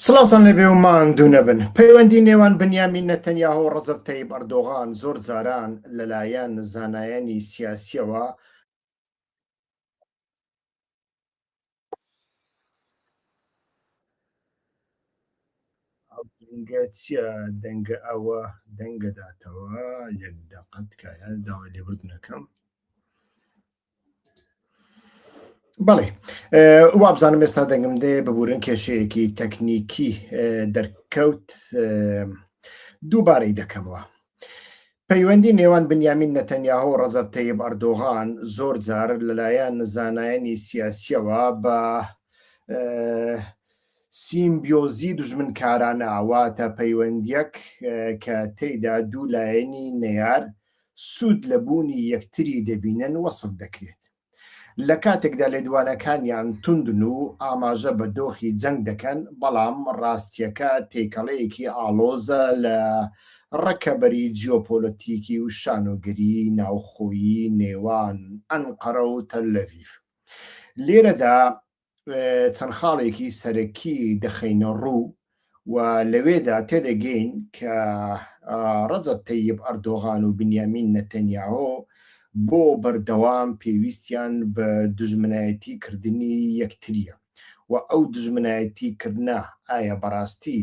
سڵاوتان لێبێ و ماندوو نەبن پەیوەندی نێوان بنیامین نەتەنیاهۆ و ڕەزەب تەیب ئەردۆغان زۆر جاران لەلایەن زانایانی سیاسیەوە دەنگە چیە دەنگە ئەوە دەنگەداتەوە یەک دەقەت کایە داوای لێبوردنەکەم بەڵێ وابزانم ئێستا دەنگم دێ ببورن کێشەیەکی تەکنیکی دەرکەوت دووبارەی دەکەمەوە پەیوەندی نێوان بنیامین نەتەنیاهۆ و ڕەزەب تەیب ئەردۆغان زۆر جار لەلایەن زانایانی سیاسیەوە بە سیمبیۆزی دژمنکارانە واتە پەیوەندیەک کە تێیدا دوو لایەنی نەیار سوود لە بوونی یەکتری دەبینن وەسف دەکرێت. لە کاتێکدا لێدوانەکانیان توندن و ئاماژە بە دۆخی جەنگ دەکەن، بەڵام ڕاستییەکە تێکەڵەیەکی ئاڵۆزە لە ڕکەبەری جیۆپۆلەتیکی و شانۆگەری ناوخۆیی نێوان ئەنقەرە و تەلەڤیڤ. لێرەدا چەند خاڵێکی سەرەکی دەخەینە ڕوو و لەوێدا تێدەگەین کە ڕەجەب تەیب ئەردۆغان و بنیامین نەتەنیاهۆ بۆ بەردەوام پێویستیان بە دژمنایەتی کردنی یەکتریە و ئەو دژمنایەتی کردە ئایا بەڕاستی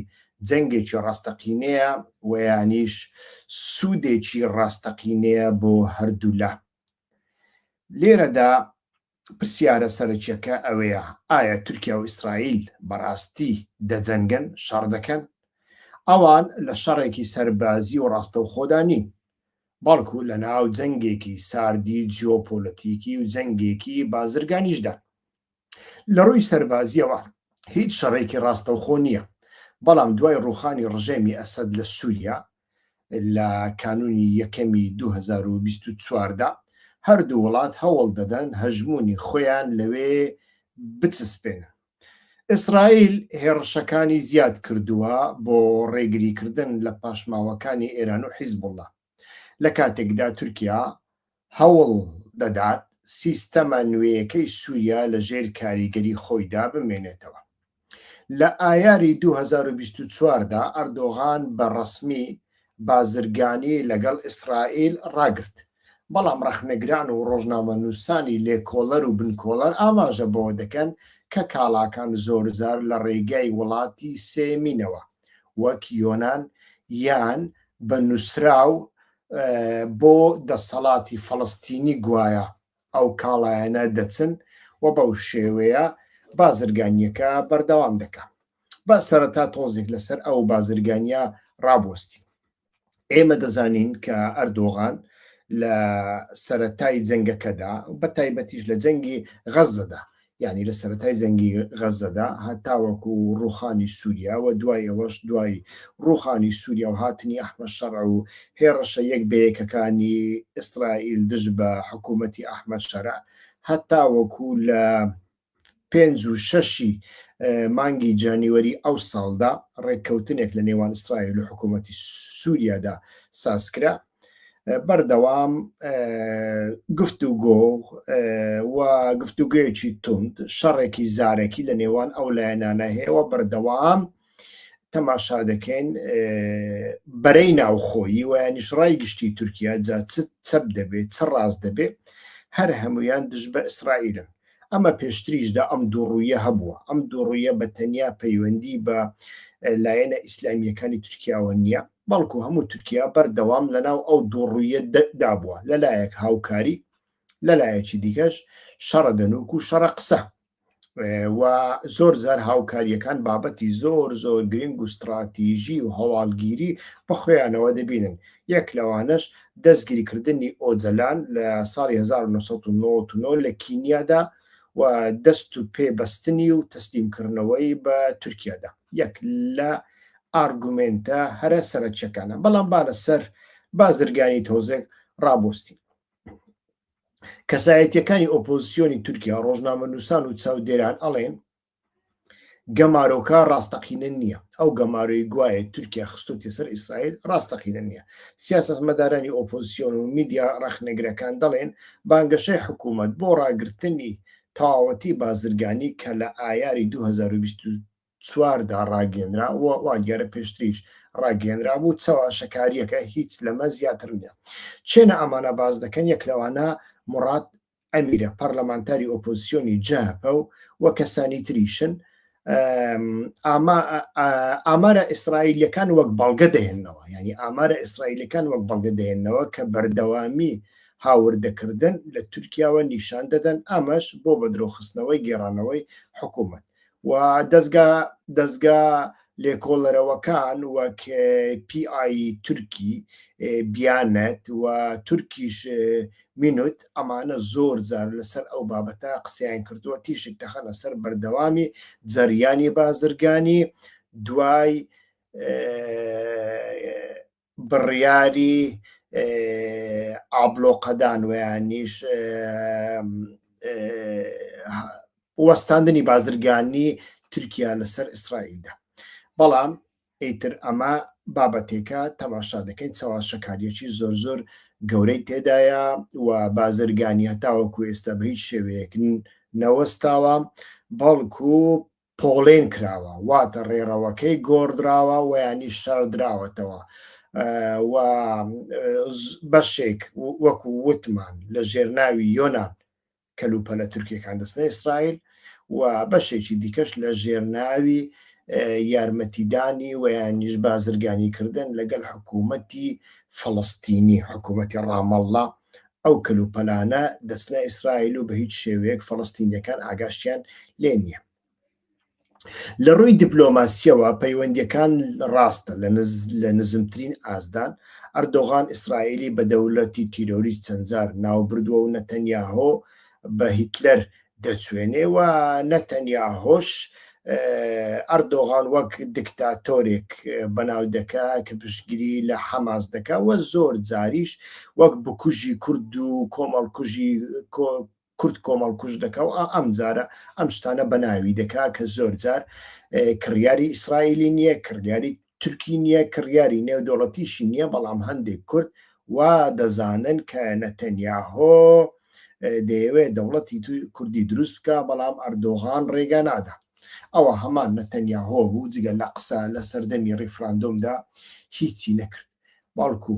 جەنگێکی ڕاستەقینەیە ویانیش سوودێکی ڕاستەقینەیە بۆ هەردوولا لێرەدا پرسیارە سەرەکیەکە ئەوەیە ئایا تورکیا و ئیسرائیل بەڕاستی دەجەنگن، شەڕ دەکەن؟ ئەوان لە شەڕێکی سەربازی و ڕاستەوخۆدا نین، بەڵکو لەناو جەنگێکی ساردی جیۆپۆلەتیکی و جەنگێکی بازرگانیشدان. لە ڕووی سەربازیەوە هیچ شەڕێکی ڕاستەوخۆ نیە، بەڵام دوای ڕووخانی ڕژێمی ئەسەد لە سوریا، لە کانوونی یەکەمی دوو هەزار و بیست و چوار دا، هەردوو وڵات هەوڵ دەدەن هەژموونی خۆیان لەوێ بچسپێنن. ئیسرائیل هێڕشەکانی زیاد کردووە بۆ ڕێگریکردن لە پاشماوەکانی ئێران و حیزبوڵڵا، لە کاتێکدا تورکیا هەوڵ دەدات سیستەمە نوێیەکەی سووریا لە ژێر کاریگەری خۆیدا بمێنێتەوە. لە ئایاری دوو هەزار و بیست و چوار دا ئەردۆغان بە ڕەسمی بازرگانی لەگەڵ ئیسرائیل ڕاگرت، بەڵام ڕەخنەگران و ڕۆژنامەنووسانی لێکۆڵەر و بنکۆڵەر ئاماژە بەوە دەکەن کە کاڵاکان زۆرجار لە ڕێگای وڵاتی سێیەمینەوە وەک یۆنان یان بە نووسراو بۆ دەسەڵاتی فەڵەستینی گوایە ئەو کاڵایانە دەچن و بەو شێوەیە بازرگانیەکە بەردەوام دەکا با سەرەتا تۆزێک لەسەر ئەو بازرگانیا ڕابوەستی ئێمە دەزانین کە ئەردۆغان لە سەتای جەنگەکەدا بە تایبەتیش لە جەنگی غەزەدا یانی لە سەرەتای جەنگی غەزەدا هەتاوەکو ڕوخانی سووریا و دوای ئەوەش دوای ڕوخانی سووریا و هاتنی ئەحمە شەرع و هێڕشە یەک بەیەکەکانی ئیسرائیل دژ بە حکوومەتی ئەحمە شەرع هەتاوەکو لە پێنج و شەشی مانگی جانیوەری ئەو ساڵدا ڕێککەوتنێک لە نێوان ئیسرائیل و حکوومەتی سووریادا سازکرا بەردەوام گفت و گۆ و گفتوگوێکی تند شەڕێکی زارەکی لە نێوان ئەو لایەنانە هەیەەوە بەردەوام تەماشا دەکەین بەرەی ناوخۆیی ویانیش ڕای گشتی تورکیا جا چ چەپ دەبێت چ ڕاست دەبێت هەر هەمویان دژ بە ئیسرائیلن ئەمە پێشتریش دا ئەم دووڕوویە هەبووە، ئەم دووڕوویە بە تەنیا پەیوەندی بە لایەنە ئیسلامییەکانی تورکیاوە نییە، بەڵکو هەموو تورکیا بەردەوام لەناو ئەو دووڕوویە دا بووە، لە لایەک هاوکاری، لە لایەکی دیکەش شەڕە دەنووک و شەڕە قسە و زۆر جار هاوکارییەکان بابەتی زۆر زۆر گرنگ و ستڕاتیژی و هەواڵگیری بە خۆیانەوە دەبینن، یەک لەوانەش دەستگیرکردنی ئۆجەلان لە ساڵی هەزار و نۆ سەد و نەوەد و نۆ لە کینیادا و دەست و پێ بەستنی و تەسلیم کردنەوەی بە تورکیادا یەک لە ئارگومێنتە هەرە سەرەکیەکانە بەڵام با لەسەر بازرگانی تۆزێک ڕابۆستین کەسایەتیەکانی ئۆپۆزیسیۆنی تورکیا ڕۆژنامە نووسان و چاودێران ئەڵێن گەمارۆکە ڕاستەقینە نییە ئەو گەمارۆی گوایە تورکیا خستوتی سەر ئیسرائیل ڕاستەقینە نییە سیاست مەدارانی ئۆپۆزیسیۆن و میدیا ڕخنەگرەکان دەڵێن بانگەشەی حکوومەت بۆ ڕاگرتنی تەواوەتی بازرگانی کە لە ئایاری 2024دا ڕاگەنرا و وا دیارە پێشتریش ڕاگەنرا بوو چاواشەکاریەکە هیچ لەمە زیاتر نیە چێنە ئەمانە باز دەکەن یەک لەوانە مڕات ئەمیرە پەرلەمانتاری ئۆپۆزسیۆنی جەهەپە و و کەسانی تریشن ئامارە ئیسرائیلەکان وەک بەڵگە دەهێنەوە ینی ئامارە ئیسرائیلەکان وەک بەڵگە دەهێنەوە کە بەردەوامی هاوردەکردن لە تورکیاوە نیشان دەدەن ئامەش بۆ بە درۆخستنەوەی گێڕانەوەی حکوومەت و دەزگا دەزگا لێکۆڵەرەوەکان وەک پیI تورکی بیانەت و تورکیش مینوت ئەمانە زۆر زار لەسەر ئەو بابەتە قسەیان کردووە تیشک دەخەنە سەر بەردەوامی جەریانی بازرگانی دوای بڕیاری ئابلۆقەدان ویانیش وەستاندنی بازرگانی تورکیا لەسەر ئیسرائیلدا بەڵام ئیتر ئەمە بابەتێکە تەماشا دەکەین چاواشەکاریەکی زۆر زۆر گەورەی تێدایە و بازرگانی هەتاوەکو ئێستا بە هیچ شێوەیەک نەوەستاوە بەڵکو پۆڵێن کراوە واتە ڕێڕەوەکەی گۆڕدراوە و یانیش شاردراوەتەوە و بەشێک وەکو وتمان لە ژێرناوی یۆناان کەلوپەلە تورکیەکان دەستە ئیسرائیل و بەشێکی دیکەش لە ژێرناوی یارمەتیدانی و یانیش بازرگانی کردن لەگەڵ حکوومەتی فلستینی حکوومەتی ڕامەڵە ئەو کەلوپەلانە دەچنە ئیسرائیل و بەهیچ شێوەیەک فەڵەستینیەکان ئاگاشتیان لێ نیە. لە ڕووی دیپلۆماسیەوە پەیوەندیەکان ڕاستە لە نزمترین ئاستدان، ئەردۆغان ئیسرائیلی بە دەولەتی تیرۆریست چەندجار ناوبردوە و نەتەنیاهۆ بە هیتلەر دەچوێنێ و نە تەنیا هۆش ئەردۆغان وەک دکتاتۆرێک بەناو دەکا کە پشتگیری لە حەماس دەکا و زۆر جاریش وەک بکوژی کورد و کۆمەڵکوژی کورد کۆمەڵکوژ دەکا و ئەم جارە ئەم شتانە بەناوی دەکا کە زۆر جار کڕیاری ئیسرائیلی نییە کڕیاری تورکی نیە کڕیاری نێودەوڵەتیشی نیە بەڵام هەندێک کورد وا دەزانن کە نەتەنیاهۆ دەیەوێت دەوڵەتی کوردی دروست بکە بەڵام ئەردۆغان ڕێگا نادا ئەوە هەمان نەتەنیاهۆ بوو جگە لە قسە لە سەردەمی ڕیفراندۆمدا هیچی نەکرد بەڵکو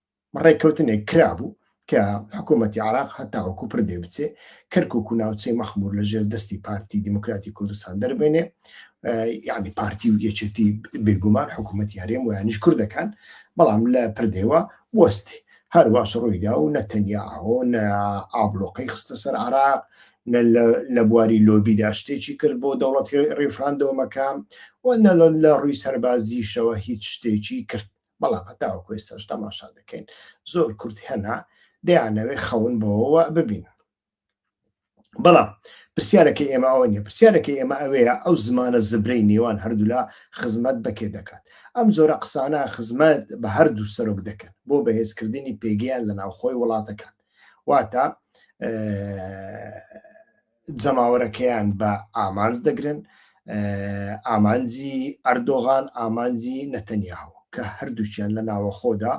ڕێککەوتنێک کرابوو کە حکوومەتتی عراق هەتاوەکو پر دێ بچێ کەرکک و ناوچەی مەخمور لە ژێر دەستی پارتی دیموکراتی کوردستان دەربێنێ یعنی پارتی و یەکێتی بێگومان حکوومەتتی هەرێم و یانیش کوردەکان بەڵام لە پردێوە وەستی هەرواش ڕوویدا و نە تەنیا ئەو نە ئابلۆقەی خستە سەر عراق لە بواری لۆبیدا شتێکی کرد بۆ دەوڵەتی ڕیفراندۆمەکە و نە لە ڕووی سەربازیشەوە هیچ شتێکی کرد بەڵام هەتاوەکو ئێستاش تەماشا دەکەین زۆر کورد هەنا دەیانەوێ خەون بەوەوە ببین بەڵام پرسیارەکەی ئێمە ئەوە نیە پرسیارەکەی ئێمە ئەوەیە ئەو زمانە زبرەی نێوان هەردوولا خزمەت بەکێ دەکات ئەم جۆرە قسانە خزمەت بە هەردوو سەرۆک دەکەن بۆ بەهێزکردنی پێگەیان لە ناوخۆی وڵاتەکان واتە جەماوەرەکەیان بە ئامانج دەگرن ئامانجی ئەردۆغان ئامانجی نەتەنیاهو کە هەردووچیان لە ناوەخۆدا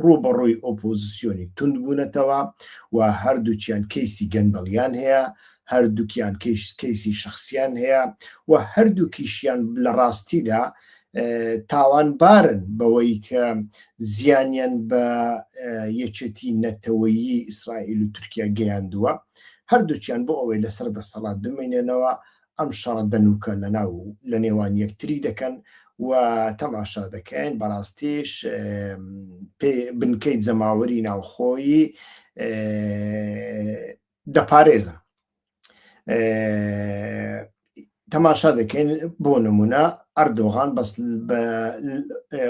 ڕووبەڕووی ئۆپۆزیسیۆنی تونند بوونەتەوە و هەردووچیان کەیسی گەندەڵیان هەیە هەردووکیان کەیش کەیسی شخصیان هەیە و هەردووکیشیان لە ڕاستیدا تاوانبارن بەوەی کە زیانیان بە یەکێتی نەتەوەیی ئیسرائیل و تورکیا گەیاندووە هەردووکیان بۆ ئەوەی لەسەر دەسەڵات بمێنێنەوە ئەم شەڕە دەنووکە لەناو و لەنێوان یەکتری دەکەن و تەماشا دەکەین بەڕاستیش بنکەی جەماوەری ناوخۆیی دەپارێزن تەماشا دەکەین بۆ نمونە ئەردۆغان بەس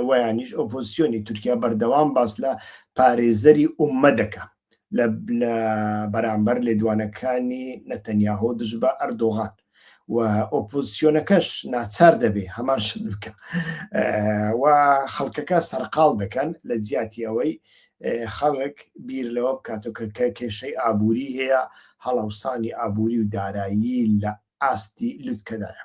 ویانیش ئۆپۆزیسیۆنی تورکیا بەردەوام باس لە پارێزەری ئومە دەکە لە بەرامبەر لێدوانەکانی نەتەنیاهۆ دژ بە ئەردۆغان و ئۆپۆزیسیۆنەکەش ناچار دەبێ هەمان شت بکە و خەڵکەکە سەرقال دەکەن لە جیاتی ئەوەی خەڵک بیر لەوە بکاتەوە کە کە کێشەی ئابووری هەیە، هەڵاوسانی ئابووری و دارایی لە ئاستی لوتکەدایە.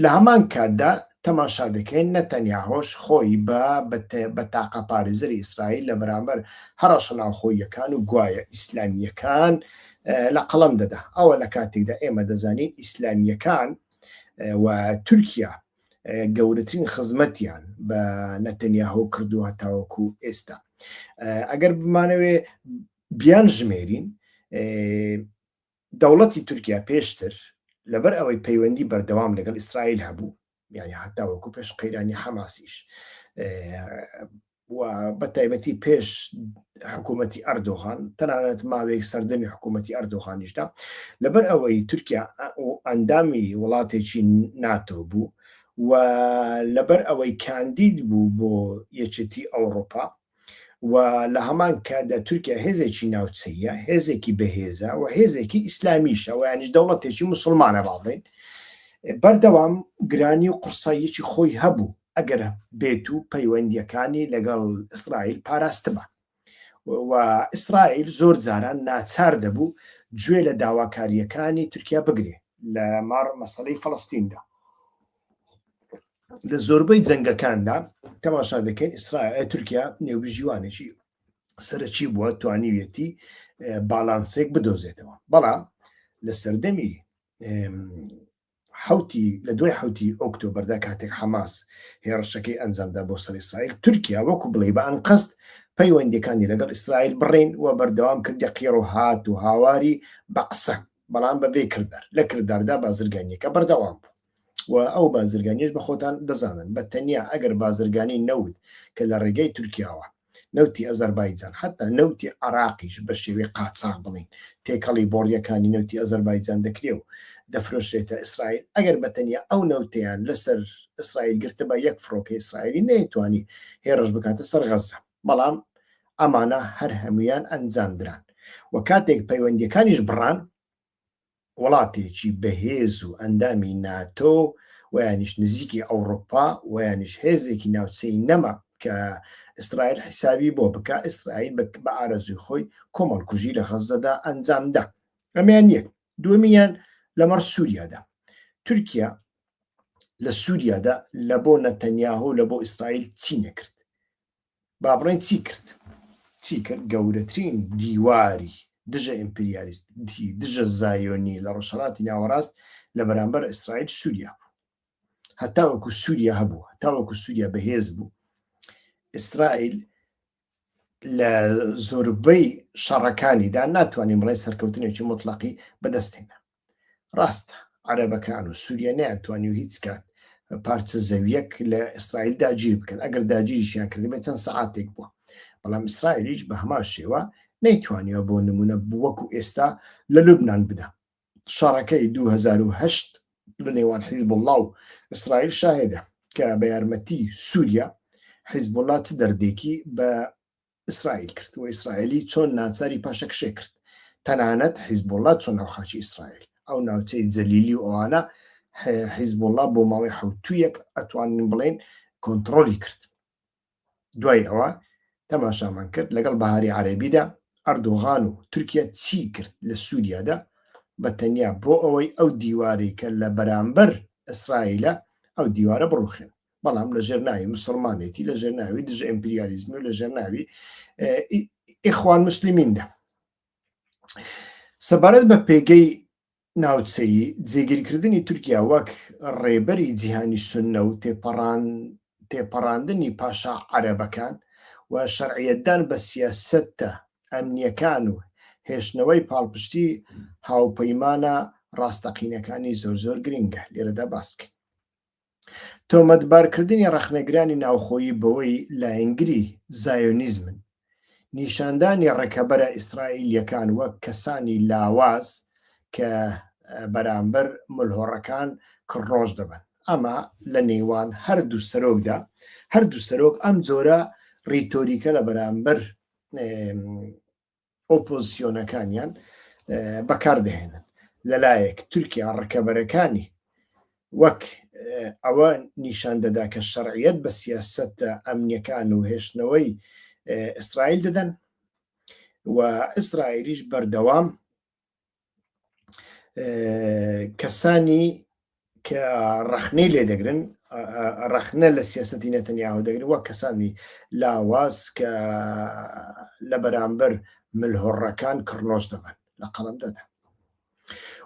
لە هەمان کاتدا تەماشا دەکەین نەتەنیاهۆش خۆی بە بە تاقەپارێزەری ئیسرائیل لە بەرامبەر هەڕەشە ناوخۆییەکان و گوایە ئیسلامییەکان لە قەڵەم دەدا ئەوە لە کاتێکدا ئێمە دەزانین ئیسلامییەکان و تورکیا گەورەترین خزمەتیان بە نەتەنیاهۆ کردووە تاوەکو ئێستا ئەگەر بمانەوێ بیان ژمێرین دەوڵەتی تورکیا پێشتر لەبەر ئەوەی پەیوەندی بەردەوام لەگەڵ ئیسرائیل هەبوو یعنی هەتاوەکو پێش قەیرانی حەماسیش و بە تایبەتی پێش حکوومەتتی ئەردۆغان تەنانەت ماوەیەک سەردەمی حکوومەتتی ئەردۆغانیشدا لەبەر ئەوەی تورکیا ئەندامی وڵاتێکی ناتۆ بوو و لەبەر ئەوەی کاندید بوو بۆ یەکێتی ئەوروپا و لە هەمان کادا تورکیا هێزێکی ناوچەیە هێزێکی بەهێزە و هێزێکی ئیسلامیشە و یانیش دەوڵەتێکی مسلمانە باڵێن بەردەوام گرانی و قورساییەکی خۆی هەبوو ئەگەر بێت و پەیوەندییەکانی لەگەڵ ئیسرائیل پاراستبا و ئیسرائیل زۆر جاران ناچار دەبوو گوێ لە داواکارییەکانی تورکیا بگرێ لە ماڕ مەسلەی فەڵستیندا لە زۆربەی جەنگەکاندا تەماشا دەکەین ئیسرائیل تورکیا نێوبژیوانێکی سەرەکی بووە توانیویەتی باڵانسێک بدۆزێتەوە بەڵام لە سەردەمی حەوتی لە دوای حەوتی ئۆکتۆبەردا کاتێک حەماس هێڕشەکەی ئەنجامدا بۆ سەر ئیسرائیل تورکیا وەکو بڵێ بە ئەنقەست پەیوەندەکانی لەگەڵ ئیسرائیل بڕین و بەردەوام کردە قیڕ و هات و هاواری بە قسە بەڵام بەبێ کردار لە کرداردا بازرگانیەکە بەردەوام بوو و ئەو بازرگانیش بە خۆتان دەزانن بە تەنیا ئەگەر بازرگانی نەوت کە لە ڕێگەی تورکیاوە نەوتی ئەزەربایجان حەتا نەوتی عەراقیش بە شێوەی قاچاغ بڵێین تێکەڵی بۆڕیەکانی نەوتی ئەزەربایجان دەکرێ و دەفرۆشرێتە ئیسرائیل ئەگەر بە تەنیا ئەو نەوتەیان لەسەر ئیسرائیل گرتبا یەک فڕۆکەی ئیسرائیلی نەیتوانی هێڕش بکاتە سەر غەزە بەڵام ئەمانە هەر هەمویان ئەنجام دران و کاتێک پەیوەندیەکانیش بڕان وڵاتێکی بەهێز و ئەندامی ناتۆ و یانیش نزیکی ئەوڕوپا و یانیش هێزێکی ناوچەی نەما کە ئیسرائیل حیسابی بۆ بکە ئیسرائیل بە ئارەزوی خۆی کۆمەڵکوژی لە غەزەدا ئەنجامدا ئەمیان یەک دومیان لەمەڕ سووریادا تورکیا لە سووریادا لە بۆ نەتەنیاهۆ لە بۆ ئیسرائیل چی نەکرد با بڵێین چی کرد؟ چی کرد؟ گەورەترین دیواری دژە ئیمپریالیستی دژە زایۆنی لە ڕۆژهەڵاتی ناوەڕاست لە بەرامبەر ئیسرائیل سووریا بوو هەتاوەکو سووریا هەبوو هەتاوەکو سووریا بەهێز بوو ئیسرائیل لە زۆربەی شەڕەکانیدا ناتوانین بڵێ سەرکەوتنێکی مطلقی بەدەستێنە ڕاستە عەرەبەکان و سووریە نەیانتوانی و هیچ کات پارچە زەویەک لە ئیسرائیل داگیر بکەن ئەگەر داگیریشیان کردبێت چەند سعاتێک بووە بەڵام ئیسرائیلیش بە هەمان شێوە نەیتوانیوە بۆ نمونە بووەکو ئێستا لە لوبناان بدا شەڕەکەی 2010 لە نێوان حیزب الله و ئیسرائیل شاهێدە کە بە یارمەتی سووریا حیزب الله چ دەردێکی بە ئیسرائیل کرد و ئیسرائیلی چۆن ناچاری پاشەکشێ کرد تەنانەت حیزبوڵات چۆن ئەو خاچی ئیسرائیل ئەو ناوچەی جەلیلی و ئەوانە حیزبوڵا بۆ ماوەی حوتویەک ئەتوانین بڵێن کۆنتترۆلی کرد دوای ئەوە تەماشامان کرد لەگەڵ بەهاری عەربیدا ئەردۆغان و تورکیا چی کرد لە سووریادا بە تەنیا بۆ ئەوەی ئەو دیواری کە لە بەرامبەر ئیسرائیلە ئەو دیوارە بڕوخێن بەڵام لە ژێرناوی مسلمانێتی لە ژێرناوی دژ ئەمپریالیزمی و لە ژێرناوی ئیخوان مسللیمیندا سەبارەت بە پێگەی ناوچەی جێگیرکردنی تورکیا وەک ڕێبەری جیهانی سنە و تێپەڕان تێپەڕاندنی پاشا عەرەبەکان و شەرعەتدان بە سیاستە ئەمنیەکان و هێشتنەوەی پاڵپشتی هاوپەیمانە ڕاستەقینەکانی زۆر زۆر گرنگە لێرەدا باس بکەین تۆمەتبارکردنی ڕەخنەگرانی ناوخۆیی بەوەی لایەنگری زایۆنیزمن، نیشاندانی ڕکەبەرە ئیسرائیلییەکان وەک کەسانی لاواز کە بەرامبەر ملهۆڕەکان کڕنۆش دەبن، ئەمە لە نێوان هەردوو سەرۆکدا، هەردوو سەرۆک ئەم جۆرە ڕیتۆریکە لە بەرامبەر ئۆپۆزسیۆنەکانیان بەکاردەهێنن لەلایەک تورکیا ڕکەبەرەکانی وەک ئەوە نیشان دەدا کە شەرعیت بە سیاست ئەمنیەکان و هێشتنەوەی ئیسرائیل دەدەن و ئیسرائیلیش بەردەوام کەسانی کە ڕخنەی لێ دەگرن ڕخنە لە سیاستی نەتەنیاوە دەگرن وە کەسانی لاواز کە لە بەرامبەر ملهۆڕەکان کڕنۆش دەبن لە قەڵم دەدا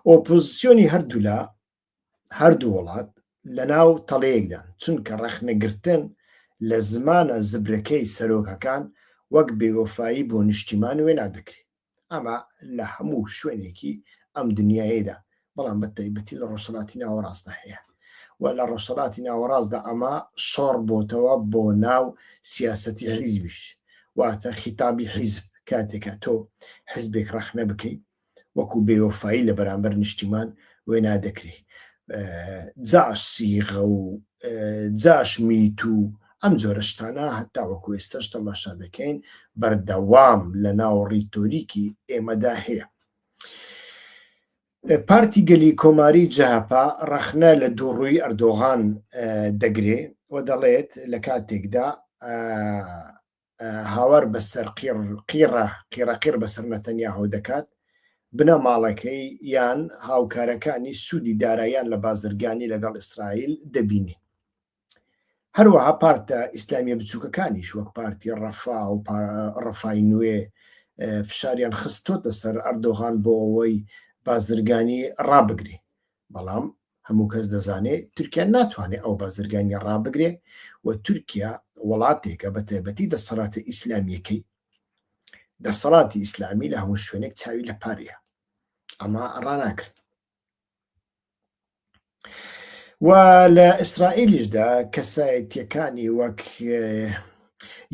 ئۆپۆزیسیۆنی هەردوولا هەردوو وڵات لە ناو تەڵەیەکدان، چونکە ڕەخنەگرتن لە زمانە زبرەکەی سەرۆکەکان وەک بێوەفایی بۆ نیشتیمان وێنا دەکرێت. ئەمە لە هەموو شوێنێکی ئەم دنیایەدا، بەڵام بە تایبەتی لە ڕۆژهەڵاتی ناوەڕاستدا هەیە و لە ڕۆژهەڵاتی ناوەڕاستدا ئەمە شۆڕ بۆتەوە بۆ ناو سیاسەتی حیزبیش، واتە خیتابی حیزب کاتێکە تۆ حیزبێک ڕەخنە بکەیت، وەکو بێوەفایی لە بەرامبەر نیشتیمان وێنا دەکرێ جاش سیغە و جاش میت و ئەم جۆرە شتانە هەتا وەکو ئێستاش تەماشا دەکەین بەردەوام لە ناو ڕیتۆریکی ئێمەدا هەیە پارتی گەلی کۆماری جەهپا ڕەخنە لە دووڕووی ئەردۆغان دەگرێ و دەڵێت لە کاتێکدا هاوار بەسەر قیڕ قیڕە قیڕەقیڕ بەسەر نەتەنیاهۆ دەکات، بنەماڵەکەی یان هاوکارەکانی سوودی داراییان لە بازرگانی لەگەڵ ئیسرائیل دەبینین. هەروەها پارتە ئیسلامیە بچووکەکانیش وەک پارتی ڕەفا و ڕەفای نوێ فشاریان خستۆتە سەر ئەردۆغان بۆ ئەوەی بازرگانی ڕابگری بەڵام هەموو کەس دەزانێ تورکیا ناتوانێ ئەو بازرگانیە ڕابگرێ و تورکیا وڵاتێکە بە تایبەتی دەسەڵاتە ئیسلامیەکەی دەسەڵاتی ئیسلامی لە هەموو شوێنێک چاوی لە پارەیە ئەمە ڕاناگرن و لە ئیسرائیلیشدا کەسایەتیەکانی وەک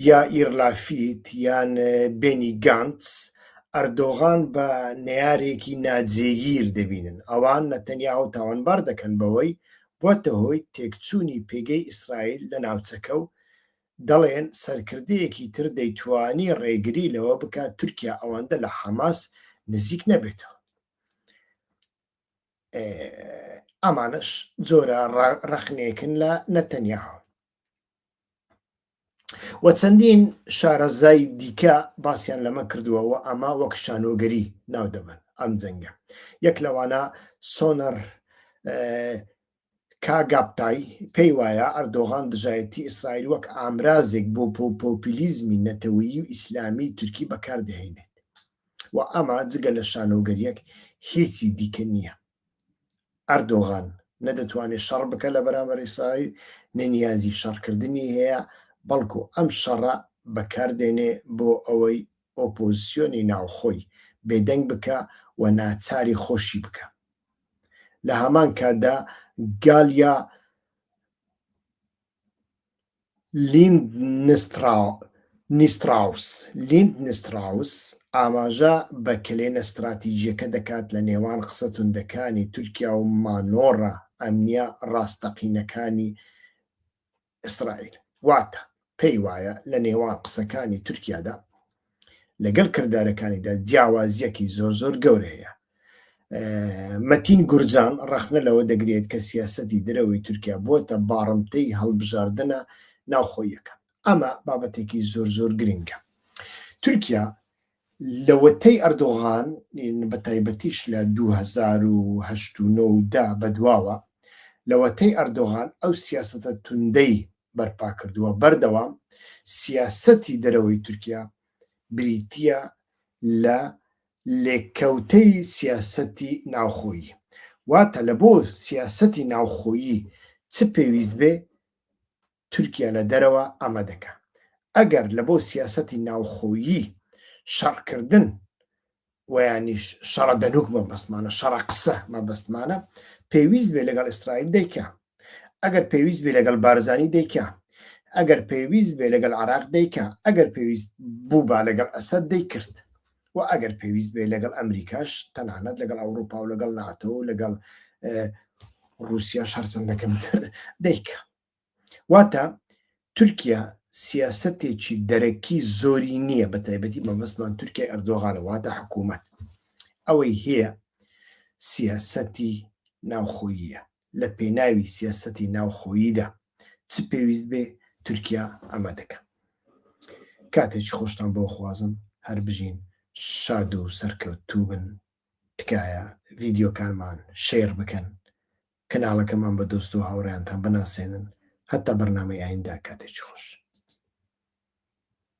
یائیر لافیت یان بێنی گانتس ئەردۆغان بە نەیارێکی ناجێگیر دەبینن، ئەوان نەتەنیاهۆ تاوانبار دەکەن بەوەی بووەتە هۆی تێکچوونی پێگەی ئیسرائیل لە ناوچەکە و دەڵێن سەرکردەیەکی تر دەیتوانی ڕێگری لەوە بکات تورکیا ئەوەندە لە حەماس نزیک نەبێتەوە. ئامانەش جۆرە ڕەخنێکن لە نەتەنیاهۆ. و چەندین شارەزای دیکە باسییان لەمە کردووە و ئەمە وەک شانۆگەری ناو دەبەن ئەم جەنگە یەک لەوانە سۆنەر کاگاپتای پێی وایە ئەردۆغان دژایەتی ئیسرائیل وەک ئامرازێک بۆ پۆپۆپیلیزمی نەتەوەیی و ئیسلامی تورکی بەکاردەهێنێت و ئەمە جگە لە شانۆگەریەک هیچی دیکە نییە ئەردۆغان نە دەتوانێت شەڕ بکە لە بەرامبەر ئیسرائیل نە نیازی شەڕکردنی هەیە بەڵکو ئەم شەڕە بەکاردێنێ بۆ ئەوەی ئۆپۆزسیۆنی ناوخۆی بێدەنگ بکە و ناچاری خۆشی بکە لە هەمان کاتدا گالیا لیندنستراوس Lindnstraus ئاماژە بە کەلێنە ستراتیجییەکە دەکات لە نێوان قسە توندەکانی تورکیا و مانۆڕە ئەمنییە ڕاستەقینەکانی ئیسرائیل، واتە پێی وایە لە نێوان قسەکانی تورکیادا، لەگەڵ کردارەکانیدا جیاوازیەکی زۆر زۆر گەورە هەیە مەتین گورجان ڕەخنە لەوە دەگرێت کە سیاستی درەوەی تورکیا بۆتە باڕمتەی هەڵبژاردنە ناوخۆیەکە ئەمە بابەتێکی زۆر زۆر گرنگە تورکیا لەوەتەی ئەردۆغان بە تایبەتیش لە 2010دا بەدواوە لەوەتەی ئەردۆغان ئەو سیاستە توندەی بەرپا کردووە، بەردەوام سیاسەتی دەرەوەی تورکیا بریتییە لە لێکەوتەی سیاسەتی ناوخۆیی، واتە لە بۆ سیاسەتی ناوخۆیی چ پێویست بێ تورکیا لە دەرەوە ئەمە دەکا، ئەگەر لە بۆ سیاسەتی ناوخۆیی شەڕکردن وەیانیش شەڕە دەنوک مەبەستمانە شەڕە قسە مەبەستمانە پێویست بێ لەگەڵ ئیسرائیل دەیکە ئەگەر پێویست بێ لەگەڵ بارزانی دەیکە ئەگەر پێویست بێ لەگەڵ عراق دەیکە ئەگەر پێویست بوو با لەگەڵ ئەسەد دەیکرد و ئەگەر پێویست بێ لەگەڵ ئەمریکاش تەنانەت لەگەڵ ئەوروپا و لەگەڵ ناتۆ و لەگەڵ رووسیا شەرچەندەکەم دەیکە واتە تورکیا سیاسەتێکی دەرەکی زۆری نییە بە تایبەتی مەبەستمان تورکیای ئەردۆغانە واتە حکوومەت ئەوەی هەیە سیاسەتی ناوخۆییە لە پێناوی سیاسەتی ناوخۆییدا چ پێویست بێ تورکیا ئەمە دەکە کاتێکی خۆشتان بۆ خوازم هەر بژین شاد و سەرکەوتوو بن تکایە ڤیددیوکانمان شێر بکەن کەناڵەکەمان بە دۆست و هاوڕێیانتان بناسێنن هەتا بەرنامەی ئایندە کاتێکی خۆش.